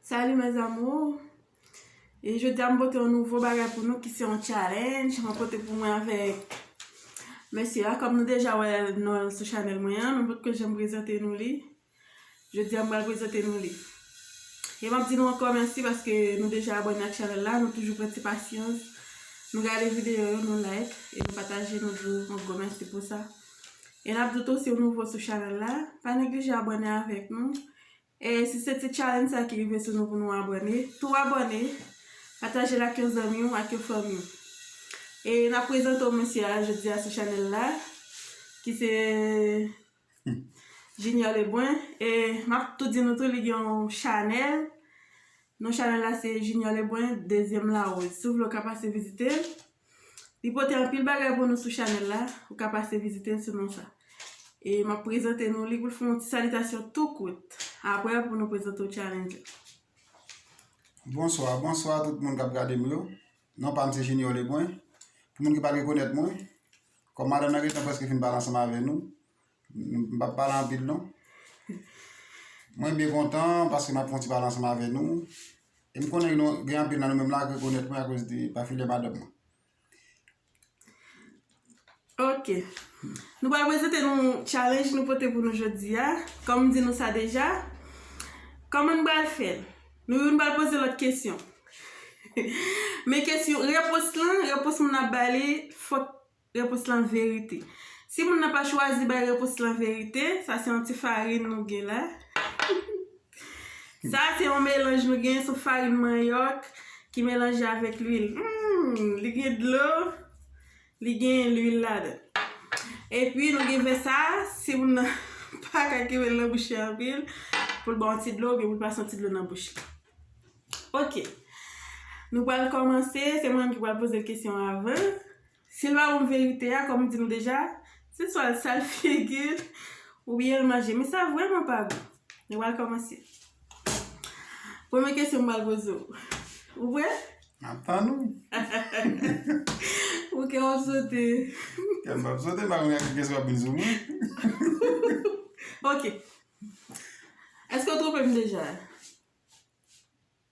Salut mes amours E jodi a m pote yon nouvo bagay pou nou ki se yon challenge mwen pote pou mwen avèk mesye a kòm nou deja wè non l sou chanèl mwen an men m potko janm prezante nou li jodi a m pral prezante nou li e m ap di nou ankò mèsi paske nou deja abòne ak chanèl la nou toujou pran ti pasyans nou gade videyo yo nou like e nou pataje nou di nou yon gwo mèsi pou sa e n ap di w tou si w nouvo sou chanèl la pa neglije abòne avèk nou E si se ti challenge sa ki rive sou nou pou nou abòne, tou abòne, patajel ak yon zanmiw ak yon fanmiw. E nap prezante w mesye a jodi a sou chanèl la ki se Junior Lebrun e map tou di nou tou li gen yon chanèl, non chanèl la se Junior Lebrun dezyèm larose. Si w vle w ka pase vizitel. Li pote anpil bagay pou nou sou chanèl la, ou ka pase vizite l sou non sa. E m ap prezante nou li pou l fè yon ti salitasyon tou kout. Aprè pou nou prezante w challenge la. Bonswa, bonswa tout moun k ap gade m yo. Non pa m se Junior Lebrun. Pou moun ki pa rekonèt mwen, kòm madanm nan gen tan prèske fin pale ansanm avè nou. M pap pale anpil non. Mwen byen kontan paske m ap fè yon ti pale ansanm avè nou. E m konnen nou gen anpil nan nou menm la k rekonèt mwen akoz de pafilè madanm mwen. Ok. Nou pral prezante nou challenge nou pote pou nou jodi a. Kòm m di nou sa deja, kòman n pral fè l? Nou youn pral poze lòt kesyon. Men kesyon, repons lan, repons moun ap bay li fòk Repons lan verite. Si moun nan pa chwazi bay repons lan verite, sa se yon ti farin nou gen la. Sa se yon melanj nou gen sou farin manyòk ki melanje avèk lwil. Humm, li gen dlo, li gen lwil ladan. E pi nou gen vè sa, si moun nan pa ka kenbe l nan bouch li anpil, pou l ba w yon ti dlo oubyen pou l pa santi dlo nan bouch li. Ok, nou pral kòmanse, se mwen menm ki pral poze l kesyon avan. Se pa bon verite a kòm di nou deja, se swa l sal figi l oubyen l manje. Men sa vrèman pa bon. Nou pral kòmanse. Premye kesyon m pral poze w. Ou prè? M ap tann ou. Ou kè w ap sote. Kè m pa p sote, m pa konn gade ki kesyon w ap vin sou mwen. Ok. Èske w twonpe m deja?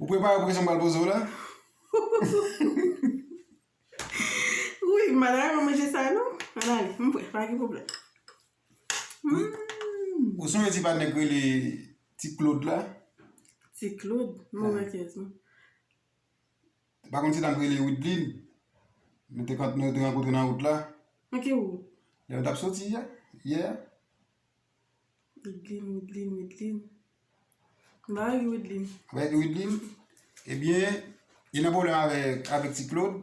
Ou prepare pou kesyon m pral poze w la? Wi, m pa ta renmen manje sa non. An ale, m pre, pa gen pwoblèm. Ou sonje ti patnè k rele Ti Klod la? Ti Klod? Move kèz non. Pa konn ti dam k rele Widlin? Nou te rankontre nan wout la. Anke wout? Lè nou t ap soti yè a. Wideline, Wideline, Wideline. M pa wè gen Wideline. M pa wè gen Wideline. Ebyen, gen yon pwoblèm avèk ti Claude.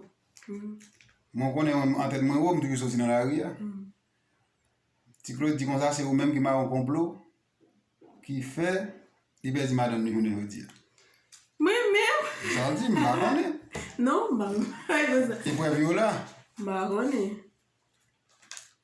Mwen konnen mwen an tèt mwen wou, m toujou soti nan lari a. Ti Claude di konsa se ou menm ki mawon konplo ki fè li pèdi madanm li jounen jodi a. Mwen menm? Se sa l di, m pa konnen. Non, m pa konnen. E prèv yo la? M pa konnen.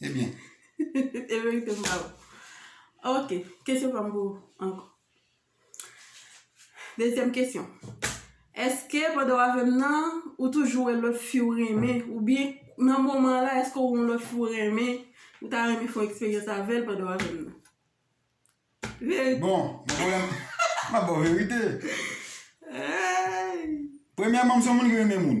Ebyen. E verite m ba ou. Ok, kesyon pa m pou ou ankò. Dezyèm kesyon. Eske pandan w avè m nan, ou toujou wè lòt fi ou renmen? Oubyen nan moman an la, eske ou wè yon lòt fi ou renmen? Ou ta renmen fè yon eksperyans avè l pandan w avè m nan? Verite. Bon, mwen pa wè. M ap ba w verite. Eeyy! Premyèman, m se yon moun ki renmen moun.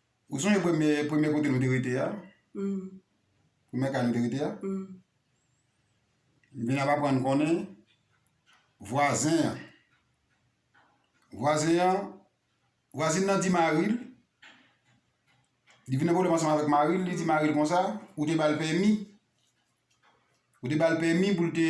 Ou sonje premye premye kote nou te rete a? Humm. Premye kay nou te rete a? Humm. M vin ap aprann konnen vwazen an vwazen an vwazin nan di mari l li vin gen pwoblèm ansanm avèk mari l li di mari l konsa ou te ba l pèmi ou te ba l pèmi pou l te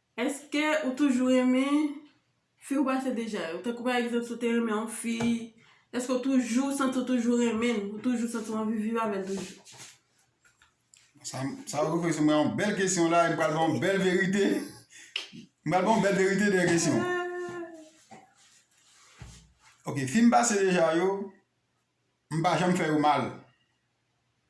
Eske ou toujou renmen Fi ou pase deja yo? Tankou pa egzanp si ou te renmen yon fi, eske ou toujou santi ou toujou renmen l, ou toujou santi ou anvi viv avèl toujou? Sa m, sa ou refleksyon mwen yon bèl kesyon la e m pral ba w yon bèl verite. M pral ba w yon bèl verite dèyè kesyon. Ok, fi m pase deja yo, m pa janm fè yo mal.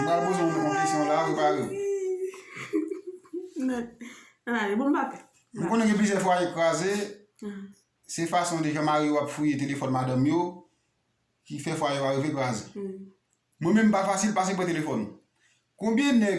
Mwen pral poze w yon kesyon la, prepare w. An ale, bon m pa pè. M konnen gen plizyè fwaye k kraze, se fason de jan mari yo ap fouye telefòn madanm yo ki fè fwaye yo arive kraze. Mwen menm m pa fasil pase m pran telefòn. Konbyen nèg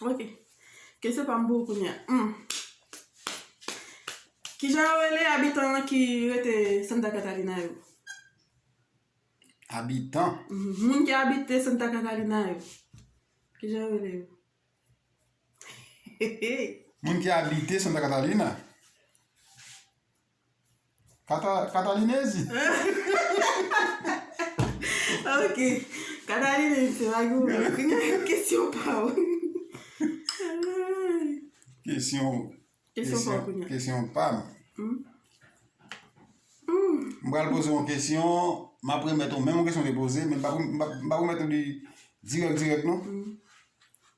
Ok. Kesyon pa m pou ou kounye a. Hum. Kijan yo rele abitan an ki rete Santa Catalina yo? Abitan? Mhm. Moun ki abite Santa Catalina yo. Kijan yo rele yo? Moun ki abite Santa Catalina? Katalinezi. Ok. Katalinezi se pa gou men. Kounya kesyon pa ou. Kesyon. Kesyon pa ou kounya. Kesyon pa m. M pral poze yon kesyon. M ap remèt ou menm kesyon m te poze. Men m pa remèt ou li dirèk dirèk non.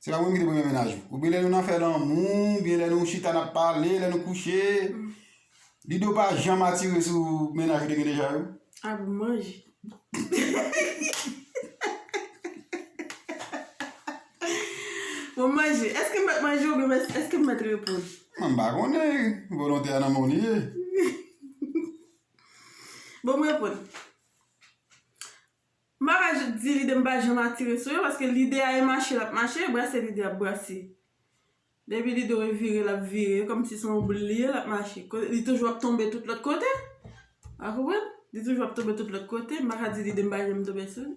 Se pa mwen ki te premye mennaj ou. Oubyen lè nou nan fè lanmou, oubyen lè nou chita nap pale, lè nou kouche. Lido pa janm atire sou mennaj ou te gen deja yo? A bon manj. Bon manj, eske m mèt manje oubyen eske m mèt reponn? M pa konnen, volontè a nan men w li ye. Bon m reponn. M pa ka di lide m pa janm atire sou yo paske lide a e mache l ap mache, brase lide ap brase. Depi lide w e vire l ap vire, e kòmsi se yon boul li ye l ap mache. Kote li toujou ap tonbe tout lòt kote. Ou konprann? Li toujou ap tonbe tout lòt kote, m pa ka di lide m pa janm tonbe sou li.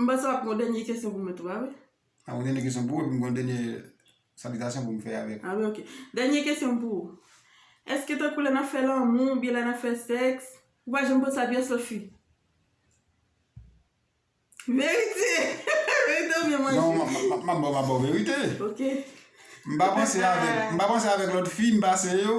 M panse wap gen yon dènye kesyon pou mwen tou a wi. Ah ou gen dènye kesyon pou ou epi m gen yon dènye salitasyon pou m fè avèk ou. Ah wi ok. Dènye kesyon m pou ou. Eske tankou lè nap fè lanmou oubyen lè nap fè sèks, ou pa janm panse a pyès lòt fi? Verite! Verite oubyen manti? Non, m ap ba w verite. Ok. M pa panse avèk lòt fi, m pase yo,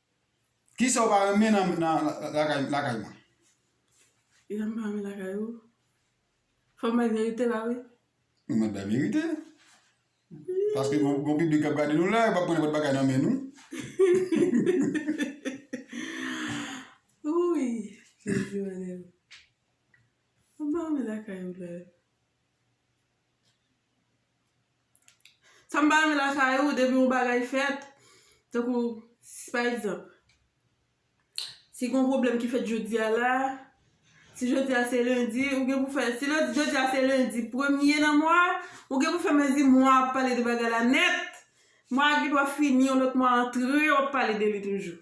Kisa ou pa renmen nan lakay mwen? Kisa m pa renmen lakay ou? Fòm bay verite la wi. Ou mèt bay verite. Paske gon piblik k ap gade nou la, yo pa pran nenpòt bagay nan men nou. Wouyy Jezi Manel. Sa m pa renmen lakay ou la. Sa m pa renmen lakay ou, depi yon bagay fèt, tankou, pa egzanp, si gen yon pwoblèm ki fèt jodi a la, si jodi a se lendi, ou gen pou fè, si jodi a se lendi premye nan mwa, ou gen pou fè men di mwa ap pale de bagay la nèt, mwa a gen dwa fini yon lòt mwa antre, w ap pale de li toujou.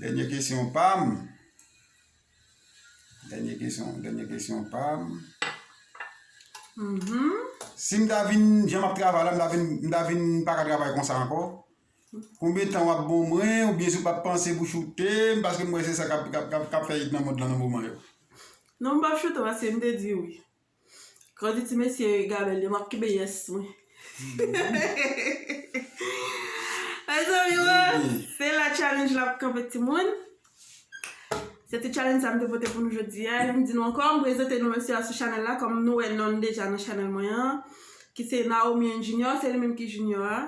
Dènye kesyon pa m. Dènye kesyon, dènye kesyon pa m. Si m ta vin, jan m ap travay la, m ta vin, m ta vin pa ka travay konsa ankò? Konbyen tan w ap ban mwen oubyen si w pa t panse pou choute m paske m wè se sa k ap, k ap, k ap fè it nan mond lan nan moman yo? Non m pa p choute w paske m te di wi. Kòl di ti mesye gabèl yo map kenbe yes mwen. Mezanmi woo se la challenge la ap kanpe timoun. Se te challenge sa m te pote pou nou jodi a. M di nou ankò m prezante nou mesye a sou chanèl la kòm nou wè non l deja nan chanèl mwen an. Ki se Naomi and Junior se li menm ki Junior a.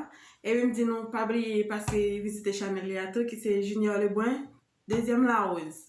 Epi m di nou pa bliye pase vizite chanèl li a tou ki se Junior Lebrun dezyèm la rose.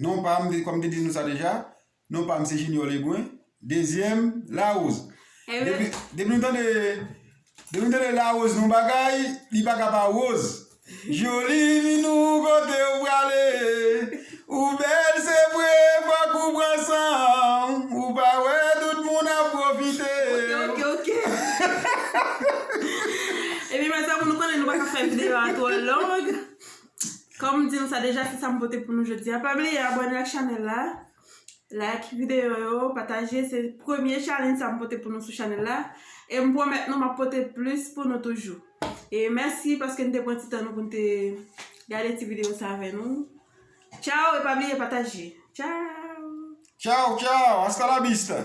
Non pa m, kòm m te di nou sa deja, non pa m se Junior Lebrun, dezyèm Larose. Depi depi nou tande depi nou tande Larose nou bagay, li pa ka pa Rose. Joli minou kote ou prale, ou bèl se vre fòk ou pran san w, ou pa wè tout moun ap pwofite w. Kòm m di nou sa deja se sa m pote pou nou jodi a. Pa bliye abòne ak chanèl la, like videyo yo, pataje. Se premye challenge sa m pote pou nou sou chanèl la. E m pwomèt nou m ap pote plis pou nou toujou. E mèsi paske n te pran ti tan nou pou n te gade ti videyo sa avè nou. Tchaw e pa bliye pataje. Tchaw! Tchaw tchaw! Hasta la vista!